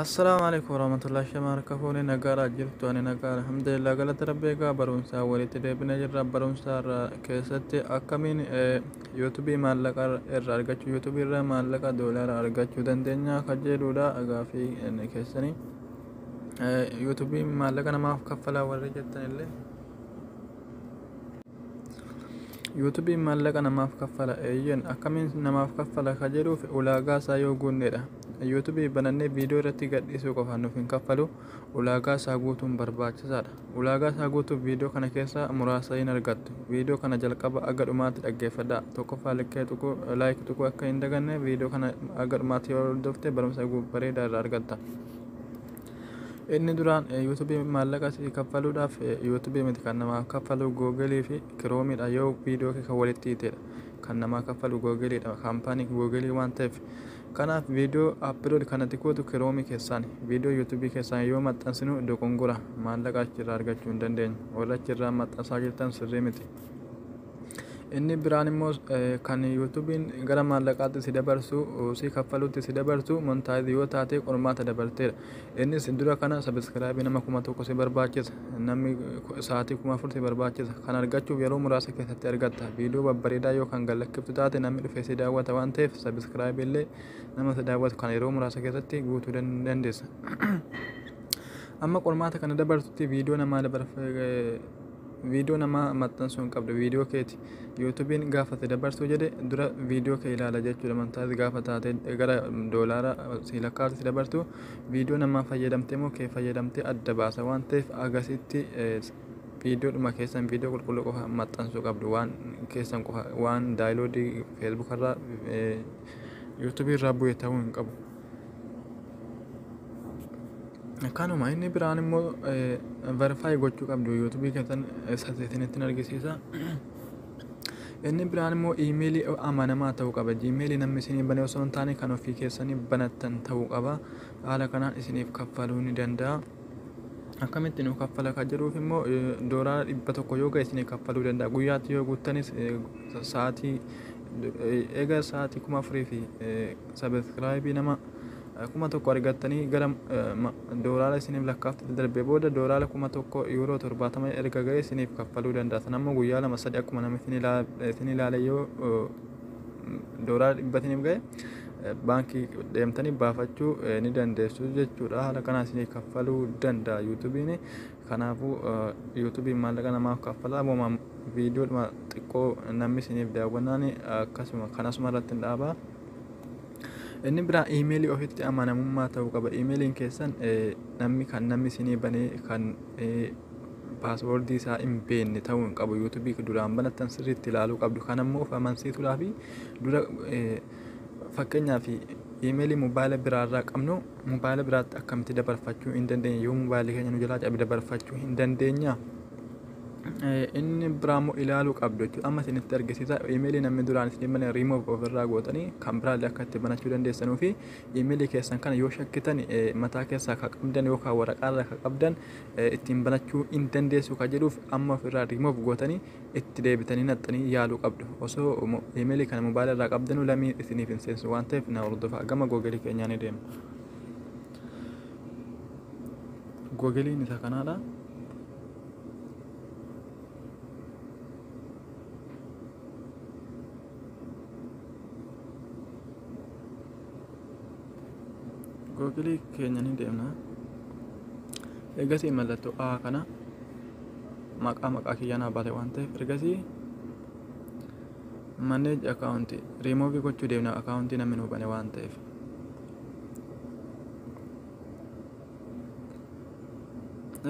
Assalaamu alaikum warahmatullahi shamarka fuuni nagaara jirtu ani nagaa alhamdulillah galata rabbi egaa barumsaa walitti deebina jirra barumsaa irraa keessatti akkamiin yuutubii maallaqa irra argachuu yuutubii irra maallaqa doolaara argachuu dandeenya kan jedhuudha gaafii keessanii Yuutuubiin maallaqa namaaf kaffalaa warri jettan illee Yuutuubiin maallaqa namaaf kaffala eeyyen akkamiin namaaf kaffala ka jedhuuf ulaagaa isaa yoo guunnedha. Yuutuubii banannee viidiyoo irratti gadhiisuu qofa nuuf hin kaffalu ulaagaa isaa guutuun barbaachisaadha. Ulaagaa isaa guutuuf viidiyoo kana keessaa muraasa hin argattu. Viidiyoo kana jalqaba aga dhumaatti dhaggeeffadhaa. Tokkoffaa likkee tuquu laayik tuquu akka hin daganne viidiyoo kana aga dhumaatti yoo hordofte barumsa bareedaa irraa argatta. Inni duraan YouTube maallaqa si kaffaluudhaaf YouTube miti kan namaa kaffalu Google fi Chrome dha yoo viidiyoo kee kan walitti hiitedha. Kan namaa kaffalu Google dha. Kaampaanii Google waan ta'eef. Kanaaf viidiyoo upload kanatti gootu Chrome keessaan viidiyoo YouTube keessaan yoo maxxansinu dogongora maallaqa achirraa argachuu hin dandeenyu. Warra achirraa maxxansaa jirtan sirrii miti. Inni biraan immoo kan yuutuubiin gara maallaqaatti si dabarsu si kaffalutti si dabarsu montaayiz yoo taate qormaata dabarteera. Innis dura kana sabiskiraabii nama kuma tokko si barbaachisa namni sa'aatii kuma afur si barbaachisa kan argachuuf yeroo muraasa keessatti argatta viidiyoo babbareedaa yoo kan gallakkiftu taate namni dhufee si daawwata waan ta'eef sabiskiraabii illee nama si daawwatu kan yeroo muraasa keessatti guutuu dandeessa. Amma qormaata kana dabarsutti viidiyoo namaa dabarfee Viidiyoo namaa maxxansuu hin qabdu viidiyoo keeti yuutubiin gaafa si dabarsuu jedhe dura viidiyoo kee ilaala jechuudha montaayis gaafa taate gara doolaara si lakkaatu si dabartu viidiyoo namaa fayyadamtee moo kee fayyadamtee adda baasa waan ta'eef agasitti viidiyoo dhuma keessan viidiyoo qulqulluu qofa maxxansuu qabdu waan keessan qofa waan daayiloodii feesbuukarraa yuutubiirraa bu'e ta'uu hin qabu. kanuma inni biraan immoo verify gochuu qabdu yuutubii keessan sasisinitti argisiisa inni biraan immoo iimeelii amanamaa ta'uu qaba iimeelii namni isinii bane osoo hin taane kan ofii keessanii banattan ta'uu qaba haala kanaan isiniif kaffaluu ni danda'a akkamitti nu kaffala kan jedhuuf immoo doolaara dhibba tokko yoo ga'e isinii kaffaluu danda'a guyyaatti yoo guuttanis sa'aatii Egaa sa'aatii kuma afurii fi sabiskiraayibii nama kuma tokko argattanii gara doolaara isiniif lakkaafte darbee booda doolaara kuma tokko yuuroo torbaatama erga ga'e isiniif kaffaluu danda'a. Sana immoo guyyaa lama sadii akkuma nama isin ilaale yoo doolaara dhibba isiniif ga'e baankii deemtanii baafachuu ni dandeessu jechuudha. Haala kanaan isinii kaffaluu danda'a yuutubiin. Kanaafu yuutubiin maallaqa namaaf kaffalaa moo viidiyoodhuma xiqqoo namni isiniif daawwannaan akkasuma kan asuma irratti hin dhaabaa. Inni biraa iimeelii ofitti amanamummaa ta'uu qaba. Iimeeliin keessan namni kan namni isinii banee kan paaswoordii isaa hin beekne ta'uu hin qabu. Yuutubii duraan banattan sirriitti ilaaluu qabdu. Kan ammoo of amansiisuudhaaf dura Fakkeenyaaf iimeelii mobaayila biraarraa qabnu mobaayila biraatti akkamitti dabarfachuu hin dandeenye yoo mobaayilli keenya nu jalaa cabe dabarfachuu hin dandeenya. Inni biraa immoo ilaaluu qabdu jechuudha. Amma isinitti argisiisa iimeelii namni duraan isin himan riimoof ofirraa gootanii kan biraallee akka itti banachuu dandeessanuu fi iimeelii keessan kana yoo shakkitan mataa keessaa akka qabdan yookaan waraqaarraa akka qabdan ittiin banachuu hin dandeessu kan jedhuuf amma ofirraa riimoof gootanii itti deebitanii naxxanii yaaluu qabdu. Osoo email kana mobile irraa qabdanu lamii isiniif hin seensu waan ta'eef na hordofaa. Gama Google keenyaa ni deema. Google'n isa kanaadha. Google keenya ni deemna. Eegasii mallattoo A kana maqaa maqaa kiyya naa baate waan ta'eef ergasii manage account remove gochuu deemna account namni nuu bane waan ta'eef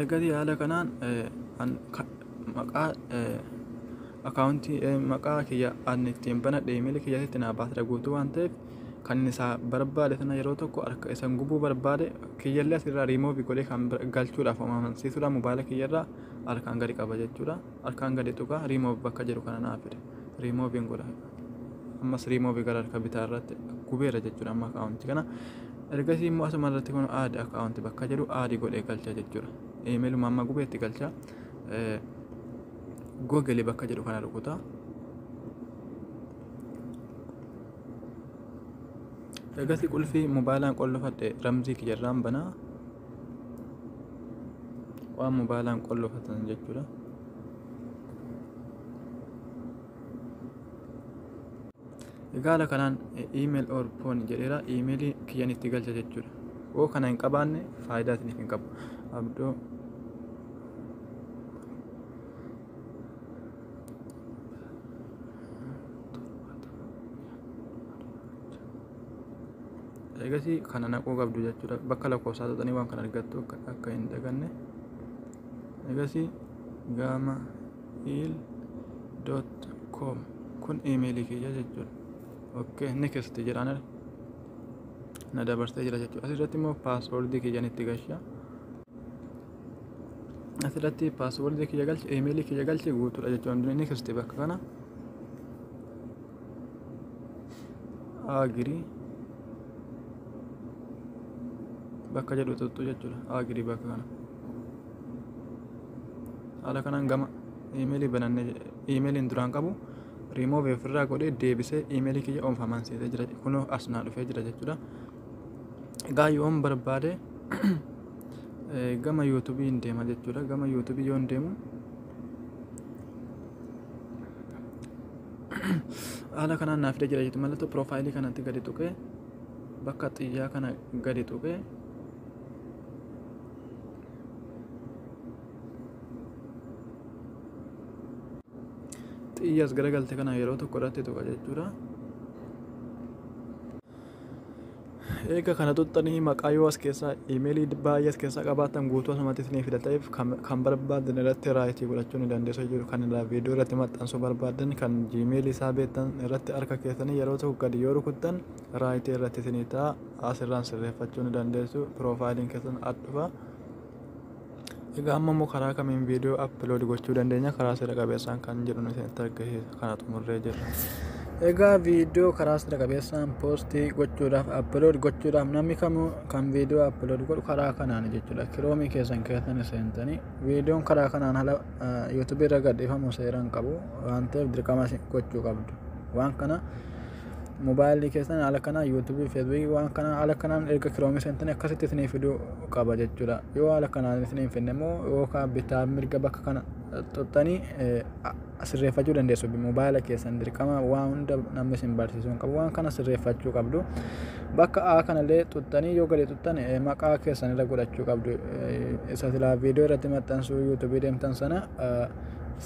ergasii haala kanaan eh, an- ka- maqaa eh, akaawuntii eh, maqaa kiyya an ittiin banadhe imeelii kiyya asitti naa baasera guutuu waan ta'eef kan inni isaa barbaade sana yeroo tokko harka isan gubuu barbaade kiyyallee asirraa riimoovi godhee kan bira- galchuudhaaf amansiisuudhaan mobaayila kiyyarraa harkaan gadi qaba jechuudha harkaan gadi tuqaa riimoovi bakka jedhu kana naa fide riimooviin godha ammas riimoovi gara harka bitaa irratti gubeera jechuudha amma akaawunti kana ergasii immoo asuma irratti kun aadi akaawunti bakka jedhu aadi godhee galcha jechuudha imeeluma amma gubeetti galcha googilii bakka jedhu kana rukutaa Eegasii qulfii mobaalaan qollofadhe ramzii kiyyarraan banaa waan mobaalaan qollofatan jechuudha. Egaala kanaan email or phone jedheera emailii kiyyan itti galcha jechuudha. Yoo kana hin qabaanne faayidaa isiniif hin qabu. Abdoo egasii kana naquu qabdu jechuudha bakka lakkoofsaa tuqxanii waan kana argattu akka akka hin daganne egasii gaama il dot com kun imeelii kiyya jechuudha okay next jedhaan na dabarsee jira jechuudha asirratti immoo paaswoordii kiyyan itti galcha asirratti paaswordii kiyya galche imeelii kiyya galche guutuudha jechuudha hundinuu inni kiriste bakka kana agirii bakka jedhu tuttu jechuudha agirii bakka kana haala kanaan gama imeelii bananne imeeliin duraan qabu riimoovii ofirraa godhee deebisee imeelii kiyya oomfamaan seetee jira kunoo as naa dhufee jira jechuudha egaa yoon barbaade gama yuutubii hin deema jechuudha gama yuutubii yoon deemu haala kanaan naaf jira jechuudha mallattoo piroofaayilii kanatti gadi tuqee bakka xiyyaa kana gadi tuqee xiyyaas garagalte kana yeroo tokko irratti tuqa jechuudha. Eega kana tuttanii maqaa yoo as keessaa imeelii baay'ee as keessaa qabaatan guutuu asumatti isinii fida ta'eef kan barbaadan irratti raayitii godhachuu ni dandeessu jechuudha. Kan irraa viidiyoo irratti maxxansuu barbaadan kan jiimeelii isaa beektan irratti harka keessanii yeroo tokko gadi yoo rukuttan raayitii irratti isinii ta'a asirraan sirreeffachuu ni dandeessu piroofaayiliin keessan adhufa. Egaa amma immoo karaa kamiin viidiyoo upload gochuu dandeenya karaa seera qabeessaan kan jedhu nuti itti argisiisa kana xumurree jirra. Egaa viidiyoo karaa seera qabeessaan poostii gochuudhaaf upload gochuudhaaf namni kamuu kan viidiyoo upload godhu karaa kanaan jechuudha. Kiroomii keessan keessan seentanii viidiyoon karaa kanaan ala yuutubii irra gadhiifamu seeraan qabu waan ta'eef dirqama gochuu qabdu. Waan kana Mobaayilii keessan haala kanaan yuutuubii, feesbuukii waan kanaan haala kanaan erga kiroomii seentanii akkasitti isinii fiduu qaba jechuu dha. Yoo haala kanaan isinii hin fidne immoo yookaan bitaa fi mirga bakka kana tuxxanii sirreeffachuu dandeessu. Mobaayila keessan dirqama waan hunda namni isin barsiisuu hin qabu. Waan kana sirreeffachuu qabdu. Bakka A kana illee tuxxanii yoo gadi tuxxan maqaa keessan irra godhachuu qabdu. Isa silaa viidiyoo irratti maxxansuu yuutuubii deemtan sana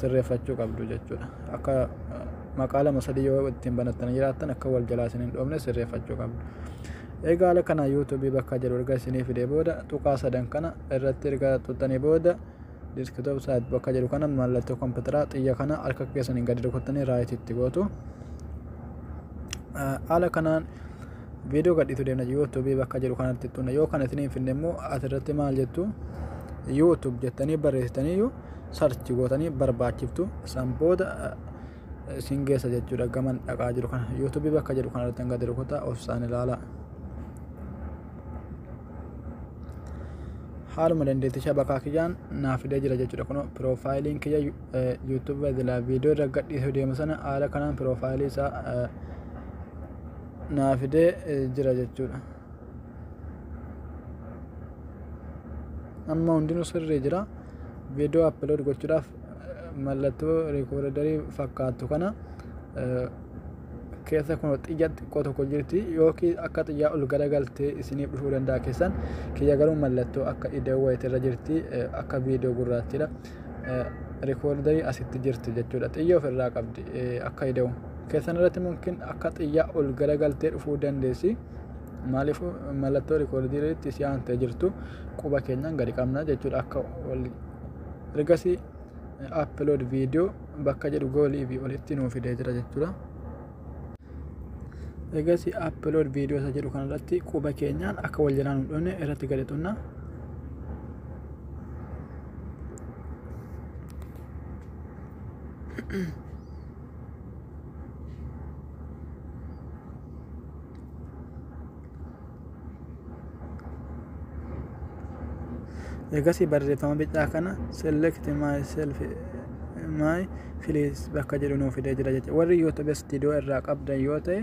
sirreeffachuu qabdu jechuu dha. akka maqaa lama sadii yoo ittiin banattanii jiraattan akka wal jalaa isin hin dhoofne sirreeffachuu qabdu. Egaa haala kana YouTube bakka jedhu erga isinii fidee booda tuqaa sadan kana irratti erga tuqxanii booda desktop site bakka jedhu kana mallattoo kompiitaraa xiyya kana harka keessaniin gadi rukuttanii raayit itti gootu. Haala kanaan viidiyoo gadhiitu deemna YouTube bakka jedhu kanatti tunna yoo kana isinii hin finne immoo asirratti maal jettu YouTube jettanii barreessitaniyyuu sarchi gootanii barbaachiftu san booda isin geessa jechuudha gaman dhaqaa jiru kana yuutuubii bakka jedhu kana irratti gadi rukutaa obsaan ilaalaa. haaluma dandeettishaa bakka kiyyaan naa fidee jira jechuudha kun piroofaayiliin kiyya yuutuubii irraa viidiyoo irra gadhiisuu deemu sana haala kanaan piroofaayilii isaa naa fidee jira jechuudha. amma hundinuu sirrii jira viidiyoo apload gochuudhaaf mallattoo riikoordarii fakkaattu kana keessa kun xiyya xiqqoo tokko jirti yookiin akka xiyyaa ol garagaltee isiniif dhufuu danda'a keessan kiyya garuu mallattoo akka idoo wayiti irra jirti akka viidiyoo gurraachidha riikoordarii asitti jirti jechuudha xiyya ofirraa qabdi akka idoo keessan irratti mumkin akka xiyyaa ol garagaltee dhufuu dandeessi. Maaliif mallattoo rikoordii irratti si aantee jirtu quba keenyaan gadi qabna jechuudha akka wal ergasii upload video bakka jedhu goolii fi olitti nuu fidee jira jechuudha. Ergasii upload video isa jedhu kanarratti quba keenyaan akka wal jalaa nu dhufne irratti gadi xunna. Eegasii barreeffama bicaa kana select myself my please bakka jedhu nuuf fidee jira jechuudha. Warri YouTube studio irraa qabdan yoo ta'e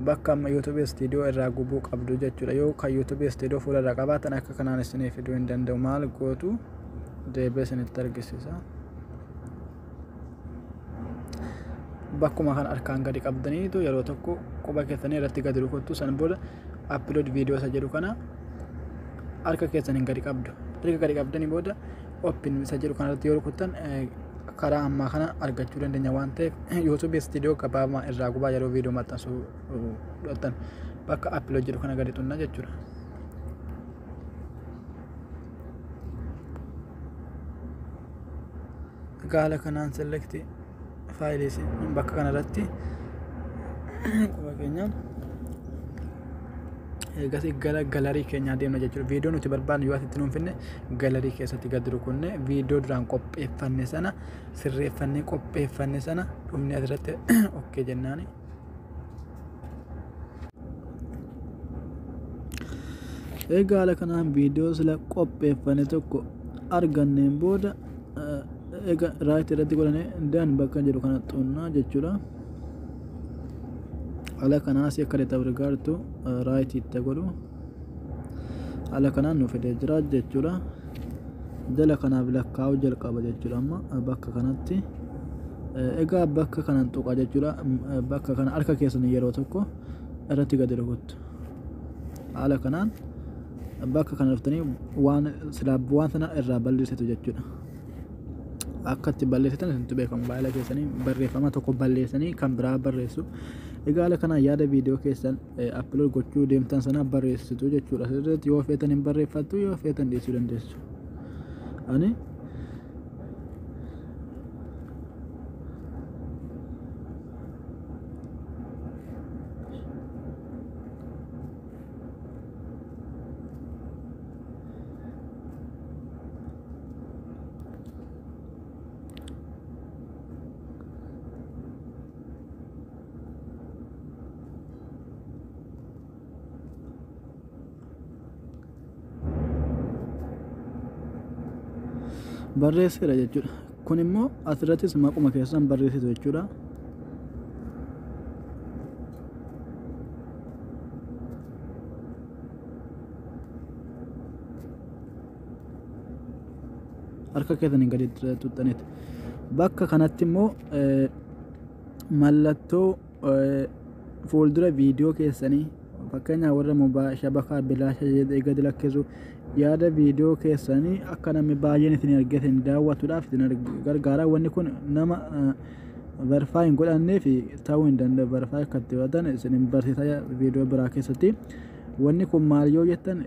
bakka amma YouTube studio irraa gubuu qabdu jechuudha. Yoo kan YouTube studio fuula irraa qabaatan akka kanaan isiniif fiduu hin danda'u. Maal gootu deebi'ee isinitti argisiisa. bakkuma kan harkaan gadi qabdaniitu yeroo tokko quba keessanii irratti gadi rukuttu san booda upload video isa jedhu kana harka keessaniin gadi qabdu erga gadi qabdanii booda open isa jedhu kana irratti yoo rukuttan karaa ammaa kana argachuu dandeenya waan ta'eef youtube studio gabaabaa irraa gubaa yeroo video maxxansuu dhottan bakka upload jedhu kana gadi xunna jechuudha. gaala kanaan selekti faayilii isin bakka kana irratti quba keenya eegasii gara galarii keenyaa deemna jechuudha viidiyoo nuti barbaadnu yoo asitti nuun finne galarii keessatti gad rukunne viidiyoo duraan qopheeffanne sana sirreeffannee qopheeffanne sana dhumni asirratti okkee jennaani. egaa haala kanaan viidiyoo sila qopheeffane tokko arganneen booda ega raayit irratti godhane dan bakka jedhu kana xunnaa jechuudha haala kanaas akka detabrigaartu raayit itti godhu haala kanaan nu fidee jira jechuudha jala kanaaf lakkaa'uu jalqaba jechuudha amma bakka kanatti egaa bakka kanan tuqa jechuudha bakka kana harka keessan yeroo tokko irratti gadi rukuttu haala kanaan bakka kana dhuftanii waan silaab waan sana irraa balleessitu jechuudha akka itti balleessitan isintu beekamu baay'ee keessanii barreeffama tokko balleessanii kan biraa barreessu egaa haala kanaan yaada viidiyoo keessan upload gochuu deemtan sana barreessitu jechuudha sirriitti yoo feetan hin barreeffattu yoo feetan dhiisuu dandeessu ani barreesseera jechuudha. Kun immoo asirrattis maquma keessan barreessitu jechuudha. Harka keessaniin gadi tuxxaniiti. Bakka kanatti immoo mallattoo fuuldura viidiyoo keessanii fakkeenyaaf warra mobaa shabakaa bilaasha jedhee gad lakkisu yaada viidiyoo keessanii akka namni baay'een isin argee isin daawwatuudhaaf isin gargaara wanni kun nama verifaa hin godhannee fi ta'uu hin danda'u verifaa akka itti godhatan isin hin barsiisa viidiyoo biraa keessatti wanni kun maal yoo jettan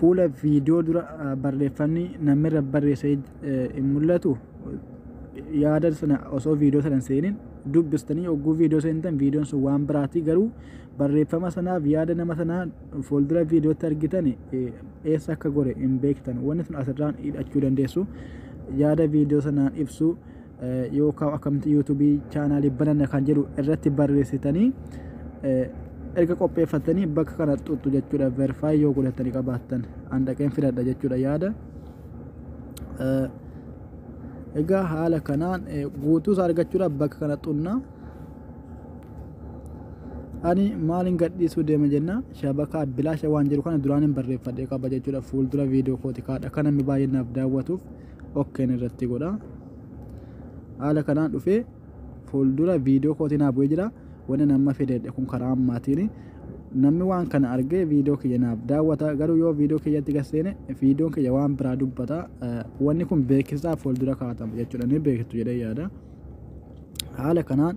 fuula viidiyoo dura barreeffamni namni irra barreessee hin mul'atu. yaada sana osoo viidiyoo sana hin seenin dubbistanii oguu viidiyoo seentan viidiyoon sun waan biraati garuu barreeffama sanaaf yaada nama sanaa fuuldura viidiyootti argitan eessa akka gore hin beektan wanni sun asirraan hidhachuu dandeessu yaada viidiyoo sanaan ibsu yookaan akkamitti yuutuubii chaanaalii bananna kan jedhu irratti barreessitanii erga qopheeffatanii bakka kana xuxxu jechuudha verifaayi yoo godhatanii qabaattan an dhaqeen filadha jechuudha yaada. egaa haala kanaan guutuus argachuudhaaf bakka kana xunna ani maalin gadhiisuu deema jenna shabakaa bilaasha waan jiru kana duraan hin barreeffadhe qaba jechuudha fuuldura viidiyoo kooti kaadha kan namni baay'inaaf daawwatuuf okkeen irratti godha haala kanaan dhufee fuuldura viidiyoo kootii naa bu'ee jira wanni nama fidedhe kun karaa ammaatiin namni waan kana argee viidiyoo kiyya naaf daawwata garuu yoo viidiyoo kiyyatti gasseene viidiyoon kiyya waan biraa dubbata wanni kun beeksisaa fuuldura kaatama jechuudha ni beektu jedhee yaada haala kanaan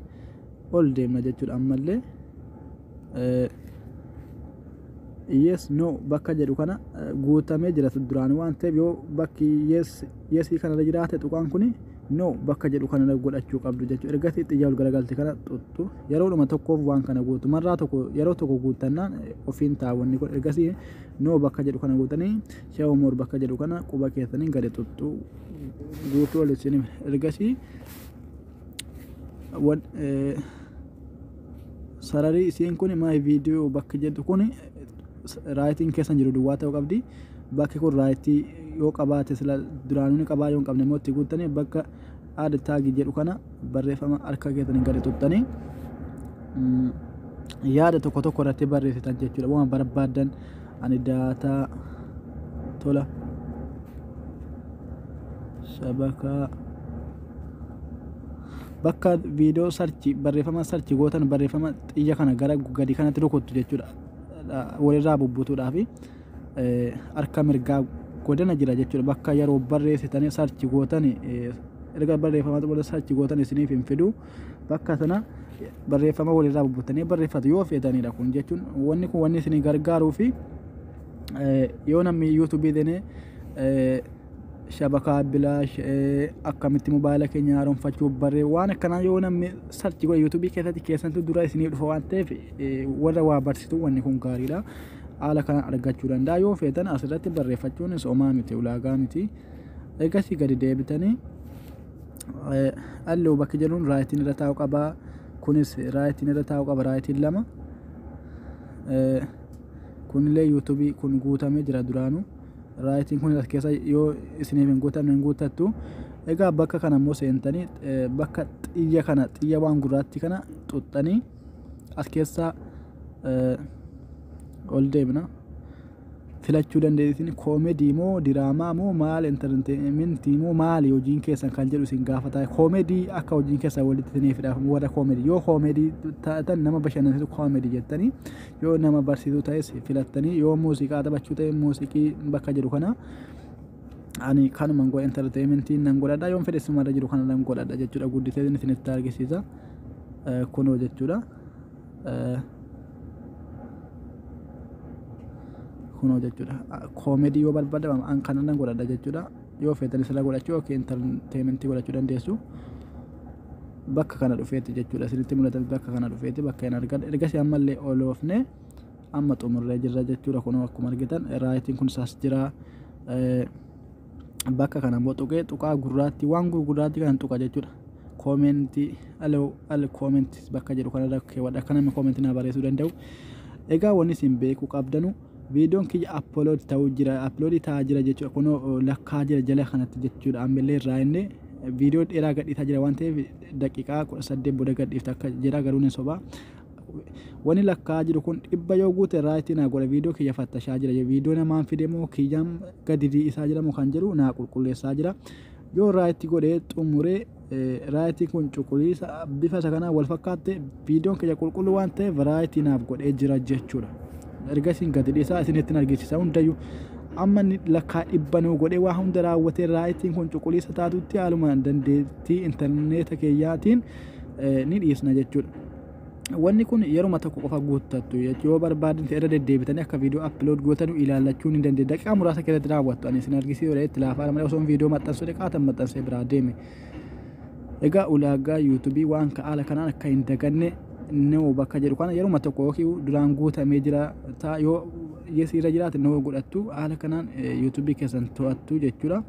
ol deemna jechuudha ammallee yes no bakka jedhu kana guutamee jira duraan waan ta'eef yoo bakki yes yes kanarra jiraate tuqaan kuni no bakka jedhu kanarra godhachuu qabdu jechuudha ergasii xiyyaa ol garagalte kana tuttu yeroodhuma tokkoof waan kana guutu marraa tokko yeroo tokko guuttannaan ofiin taawwanni kun ergasii no bakka jedhu kana guutanii show more bakka jedhu kana quba keessaniin gadi tuttu guutuu ol isin ergasii wan sararii isiin kun my video bakki jedhu kun raayitiin keessa jiru duwwaa ta'uu qabdi bakki kun raayitii yoo qabaate sila duraanuu qabaa yoo hin qabne immoo itti guuttanii bakka aad taagi jedhu kana barreeffama harka keessaniin gadi tuttanii yaada tokko tokko irratti barreessitan jechuudha waan barbaadan ani daataa tola shabakaa bakka viidiyoo sarchi barreeffama sarchi gootan barreeffama xiyya kana gara gadi kanatti rukuttu jechuudha walirraa bubbutuudhaafi harka mirgaa godana jira jechuudha bakka yeroo barreessitanii sarchi gootan erga barreeffama xumura sarchi gootan isiniif hin fidu bakka sana barreeffama walirraa bubbutanii barreeffatu yoo feetanidha kun jechuun wanni kun wanni isinii gargaaruu fi yoo namni yuutuubii seenee shabakaa bilaash akkamitti mobaayila keenya haaromfachuu barree waan akkanaa yoo namni sarchi godhe yuutuubii keessatti keessantu dura isinii dhufa waan ta'eef warra waa barsiisu wanni kun gaariidha. Haala kana argachuu danda'a yoo feetan asirratti barreeffachuun somaa miti ulaagaa miti. Eegasii gadi deebitanii halluu bakki jedhuun raayitiin irra taa'u qaba. Kunis raayitiin irra taa'u qaba raayitiin lama. Kunillee yuutuubii kun guutamee jira duraanuu. raayitiin kun as keessa yoo isiniif hin guutamne hin guuttattu egaa bakka kana immoo seentanii bakka xiyya kana xiyya waan gurraatti kana xuxxanii as keessa ol deemna filachuu dandeessin koomedii moo diraamaa moo maal intarteementii moo maali hojiin keessan kan jedhu isin gaafata koomedii akka hojiin keessan walitti isiniif hidhaaf warra koomedii yoo koomedii taatan nama bashannansiisu koomedii jettanii Yoo nama barsiisuu ta'es filattanii yoo muuziqaa taphachuu ta'e muuziqii bakka jiru kana ani kanuman godha entertainmentii nan godhadha yoon fedhe sumarra jiru kana nan godhadha jechuudha guddisee isinitti argisiisa Eh, kunoo jechuudha Eh, kunoo jechuudha Ah, koomedii yoo barbaadde an kana nan godhadha jechuudha yoo feetan isirra godhachuu yookiin entertainmentii godhachuu dandeessu bakka kana dhufeetti jechuudha isinitti mul'ata bakka kana dhufeetti bakka hin argan ergasii ammallee ol oofne amma xumurree jirra jechuudha kun akkuma argitan raayitiin kun isaas jira bakka kana immoo tuqee tuqaa gurraatti waan gurgurraatti kana tuqa jechuudha koomentii al al koomentii bakka jedhu kanarra keewwadha akka namni koomentii naa barreessuu danda'u egaa wanni isin beekuu qabdanu Viidiyoon kiyya upload ta'uu jira, upload ta'aa jira jechuudha. Kunoo lakkaa jira jala kanatti jechuudha. Ammallee irraa inni viidiyoo dheeraa gadhiisaa jira waan ta'eef daqiiqaa 18 booda gadhiifta akka jira garuu ni soba. Wani lakkaa jiru kun dhibba yoo guute raayitii naa godha viidiyoo kiyya fattashaa jira. Viidiyoo namaan fide moo kiyyaan gadi isaa jira moo kan jedhu naa qulqulleessaa jira. Yoo raayitii godhee xumuree raayitii kun cuquliisa bifa isa kanaan wal fakkaatte viidiyoon keenya qulqulluu waan ta'eef raayitii naaf godhee jira jechuudha. Erga isin gadi dhiisaa isinitti hin argisiisa hundayyuu amma inni lakkaa dhibba nuu godhee waa hunda raawwatee raayitiin kun cuquliisa taatutti haaluma dandeettii intarneeta keeyyaatiin ni dhiisna jechuudha. Wanni kun yeruma tokko qofa guuttattu yoo barbaadan irra deddeebitanii akka viidiyoo upload gootanu ilaallachuu ni dandeenya. Daqiiqaa muraasa keessatti raawwattu ani isin argisiisuudha itti laafaa malee osoo viidiyoo maxxansuu dhiqaatan maxxansee biraa deeme. Egaa ulaagaa yuutuubii waan ka'aala kanaan akka hin daganne noo bakka jedhu kana yeruma tokko yookiin duraan guutamee jira ta'a yoo yes irra jiraate noo godhattu haala kanaan yuutuubii keessan to'attu jechuudha.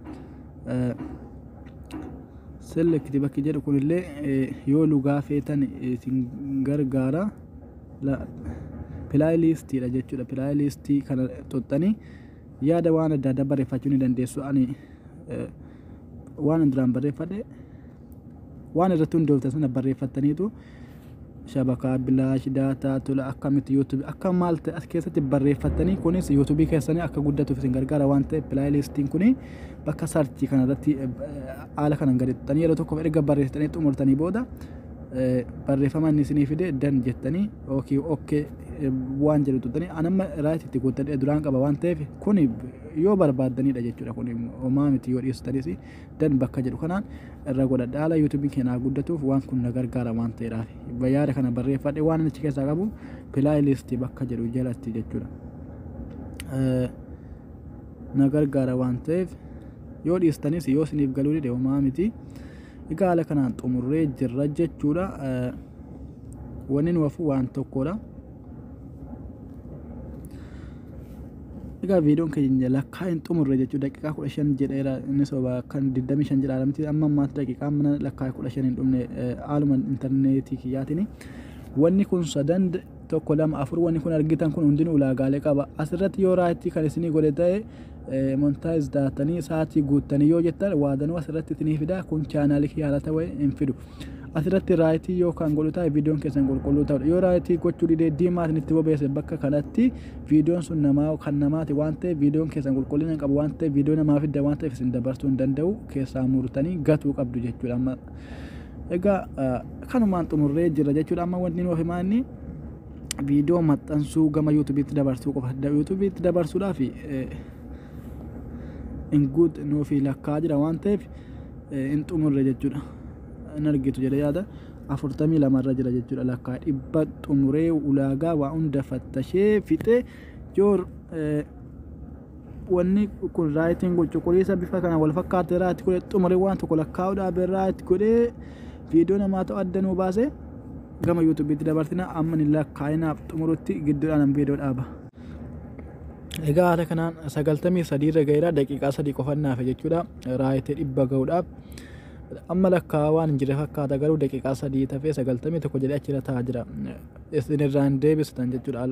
selekti bakki jedhu kunillee yoo lugaa feetan isin gargaara pilaayiliistiidha jechuudha pilaayiliistii kana xuxxanii yaada waan adda addaa barreeffachuu ni dandeessu ani waan duraan barreeffadhe waan irratti hundooftan sana barreeffattaniitu shabakaa bilaash daataa tola akkamitti yuutuubii akka maal ta'e as keessatti barreeffattanii kunis yuutuubii keessanii akka guddatuuf isin gargaara waan ta'eef pilaayilistiin kun bakka sarchii kanarratti haala kanan gadittanii yeroo tokkoof erga barreessitanii xumurtanii booda barreeffama inni isinii fide dan jettanii ookii okkee waan jedhu tuttanii anamma raayit itti guuttadhee duraan qaba waan ta'eef kun yoo barbaaddanidha jechuudha kun homaa miti yoo dhiistanis dan bakka jedhu kanaan irra godhadha haala yuutuubiin keenya haa guddatuuf waan kun na gargaara waan ta'eedhaaf yaada kana barreeffadhe waan inni achi keessaa qabu pilaayilistii bakka jedhu jalatti jechuudha na gargaara waan ta'eef yoo dhiistanis yoo isiniif galuu dide homaa miti egaa haala kanaan xumurree jirra jechuudha wanni nu hafu waan tokkodha. Egaa viidiyoon keenya lakkaa hin xumurre jechuudha daqiiqaa kudha shan jedheera inni soba kan digdamii shan jedha alamti amma ammaatti daqiiqaa mana lakkaa kudha shan hin dhumne haaluma intarneetii kiyyaatiin wanni kun sadan tokko lama afur wanni kun argitan kun hundinuu ulaagaalee qaba asirratti yoo raayittii kan isinii godhe ta'e montaayiz daatanii sa'aatii guuttanii yoo jettan waadanuu asirratti isinii fida kun chaanaalii kiyyaarata wa'e hin fidu. asirratti raayitii yoo kan godhu ta'e viidiyoon keessan qulqulluu ta'udha yoo raayitii gochuu didee diimaa isinitti bobeesse bakka kanatti viidiyoon sun namaa kan namaati waan ta'eef viidiyoon keessan qulqullina hin qabu waan ta'eef viidiyoo namaa fidda waan ta'eef isin dabarsuu hin danda'u keessaa murtanii gatuu qabdu jechuudha amma egaa kanumaan xumurree jira jechuudha amma wanti nuuf himaa inni viidiyoo maxxansuu gama yuutubiitti dabarsuu qofa yuutubiitti dabarsuudhaaf hin guut nuuf lakkaa jira waan ta'eef hin xumurre jechuudha hin argitu jedhe yaada afurtamii lamarra jira jechuudha lakkaa dhibba xumuree ulaagaa waa hunda fattashee fixee yoo wanni kun raayitiin kun cuquliisa bifa kana wal fakkaate irraatti godhe xumuree waan tokko lakkaa'uudhaaf irraatti godhee viidiyoo namaa ta'u adda nuu baasee gama yuutuubiitti dabarsina amma ni lakkaa'inaaf xumurutti gidduudhaan viidiyoo dhaaba. Egaa haala kanaan sagaltamii sadiirra gaheera daqiiqaa sadii qofannaaf jechuudha. raayite dhibba ga'uudhaaf amma lakkaa waan hin jirre fakkaata garuu daqiiqaa sadii tafee sagaltamii tokko jedhee achirra taa'aa jira isin irraa hin deebistan jechuudha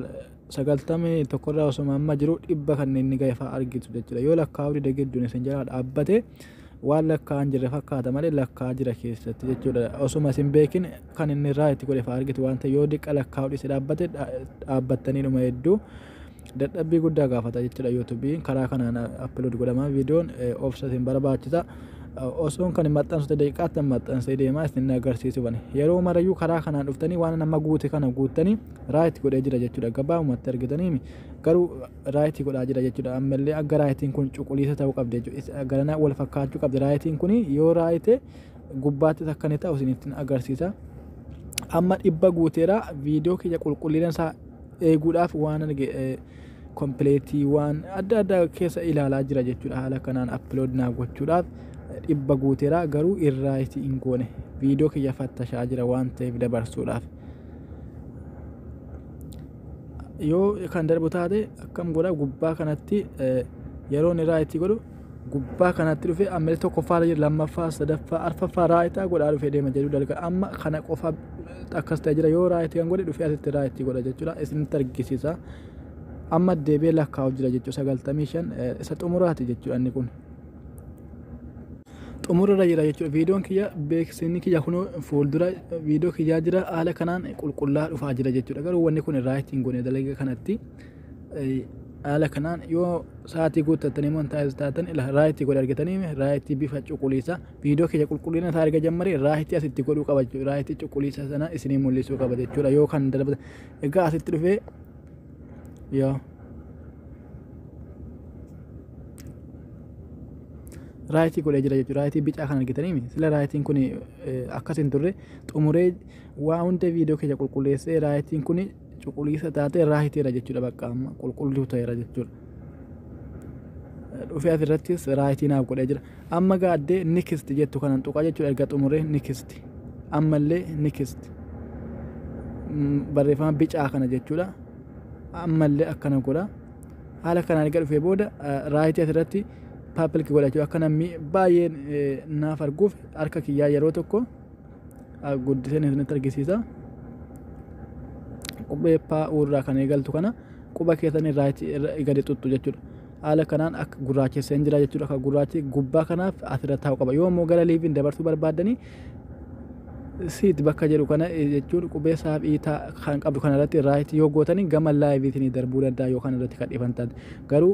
sagaltamii tokko irraa osuma amma jiru dhibba kan inni ga'e fa'aa argitu jechuudha yoo lakkaa hori dagidduun isin jalaa dhaabbate waan lakkaa hin jirre fakkaata malee lakkaa jira keessatti jechuudha osuma isin beekin kan inni irraa itti godhe fa'aa argitu waan ta'e yoo diqqa lakkaa hori si dhaabbate dhaabbattanii dhuma hedduu dadhabbii guddaa gaafata jechuudha yuutuubiin karaa kanaan appilood godhama viidiyoon obsa isin barbaachisa osoon kan maxxansu daqiiqaatti maxxansee deemaa isin agarsiisu bane yeroo marayyuu karaa kanaan dhuftanii waan nama guute kana guuttanii raayit godhee jira jechuudha gabaabumatti argitanii garuu raayit godhaa jira jechuudha ammallee akka raayitiin kun cuquliisa ta'uu qabdi jechuudha garanaa wal fakkaachuu qabdi raayitiin kun yoo raayite gubbaatti takka ni ta'u isin ittiin agarsiisa amma dhibba guuteera viidiyoo kiyya qulqullina isaa eeguudhaaf waan arge kompileetii waan adda addaa keessa ilaalaa jira jechuudha haala kanaan appilood naa gochuudhaaf dhibba guuteera garuu irraa itti hin goone viidiyoo kiyya fattashaa jira waan ta'eef dabarsuudhaaf yoo kan darbu taate akkam godha gubbaa kanatti yeroon irraa itti godhu gubbaa kanatti dhufe ammallee tokkoffaa irra jira lammaffaa sadaffaa arfaffaa raayitaa godhaa dhufe deema jedhu dalga amma kana qofa akkas ta'e jira yoo raayitii kan godhe dhufe asitti raayitii godha jechuudha isinitti argisiisa amma deebi'ee lakkaa'u jira jechuudha sagaltamii shan isa xumuraati jechuudha inni kun. xumurarra jira jechuudha viidiyoon kiyya beeksisni kiyya kun fuuldura viidiyoo kiyyaa jira haala kanaan qulqullaa dhufaa jira jechuudha garuu wanni kun raayitii hin goone dalaga kanatti. Haala kanaan yoo sa'aatii guuttattanii immoo hin taasisu taatan raayitii godhe argitanii raayitii bifa cuquliisa viidiyoo keenya qulqullina isaa erga jammaree raayitii asitti godhuu qaba jechuudha. Raayitii cuquliisa sana isinii mul'isuu qaba jechuudha yoo kan darbatan. Egaa asitti dhufee yoo raayitii godhee jira jechuudha. Raayitii bicaa kan argitanii miti. Sila raayitiin kun akkas hin turre xumuree waa hunda viidiyoo keenya qulqulleessee raayitiin kun cuquliisa taate irraa hiteera jechuudha bakka amma qulqulluu ta'eera jechuudha. Dhufee asirrattis raayitii naaf godhee jira. Amma gaaddee nikist jettu kanan tuqaa jechuudha erga xumuree nikist. Ammallee nikist. Barreeffama bicaa kana jechuudha. Ammallee akkana godha. Haala kanaan erga dhufee booda raayitii asirratti paapilki godha jechuudha. Akka namni baay'een naaf arguuf harka kiyyaa yeroo tokko guddiseen isinitti argisiisa qubee paa irraa kan eegaltu kana quba keessan irraa gadi tuttu jechuudha haala kanaan akka gurraachesseen jira jechuudha akka gurraachi gubbaa kanaaf asirra taa'u qaba yoo immoo gara liiviin dabarsuu barbaaddanii siit bakka jedhu kana jechuun qubee saaf iitaa kan qabdu kanarratti irraa yoo gootanii gama laayiviitiin darbuu danda'a yookaan irratti kan dhifantan garuu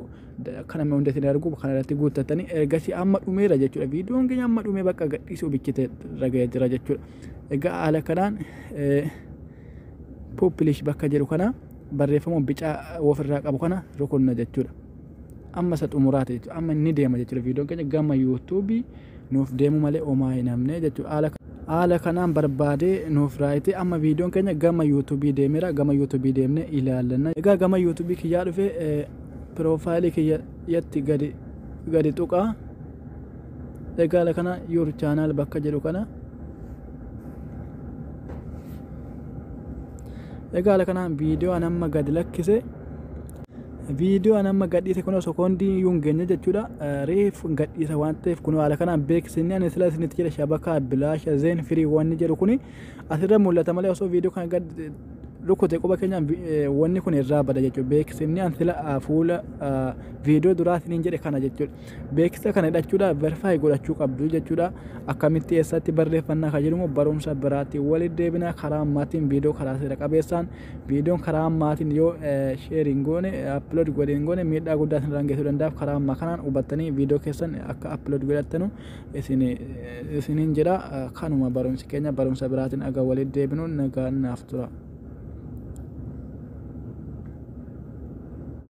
akka namni hundi isin argu kana irratti guuttattanii ergasii amma dhumeera jechuudha. Viidiyoon keenya amma dhumee bakka gadhiisuu bichite raga'ee jira jechuudha. Egaa haala kanaan puupilish bakka jedhu kana barreeffama bicaa ofirraa qabu kana rukunna jechuudha. Amma isa xumuraati jechuudha. Amma inni deema jechuudha. Viidiyoon keenya gama yuutuubii nuuf deemu malee homaa hin hamne jechuudha. Haala haala kanaan barbaadee nuuf raayitee amma viidiyoon keenya gama yuutuubii deemeera gama yuutuubii deemnee ilaallanna egaa gama yuutuubii kiyyaa dhufee profile kiyya yatti gadi gadi tuqa egaala kana your channel bakka jedhu kana egaala kana viidiyoo an amma gadi lakkise viidiyoo an amma gadhiise kun osoo koondii iyyuu hin geenye jechuudha reef gadhiisa waan ta'eef kun haala kanaan beeksisni ani sila isinitti jedha shabakaa bilaasha zeen firii wanni jedhu kuni asirra mul'ata malee osoo viidiyoo kana gad rukute quba keenyaan wanni kun irraa bada jechuudha. Beeksifni an sila fuula viidiyoo duraa isiniin jedhe kana jechuudha. Beeksisa kana hidhachuudhaaf verify godhachuu qabdu jechuudha. Akkamitti eessatti barreeffannaa kan jedhamu barumsa biraatti waliin deebina karaa ammaatiin viidiyoo karaa seera qabeessaan viidiyoon karaa ammaatiin yoo sheeriin goone upload godheen goone miidhaa guddaa isinirraan geessuu danda'a. Karaa ammaa kanaan hubattanii viidiyoo keessan akka upload godhattanu isiniin jedha kanuma barumsi keenya barumsa biraatiin aga waliin deebinu nagaan naaf tura.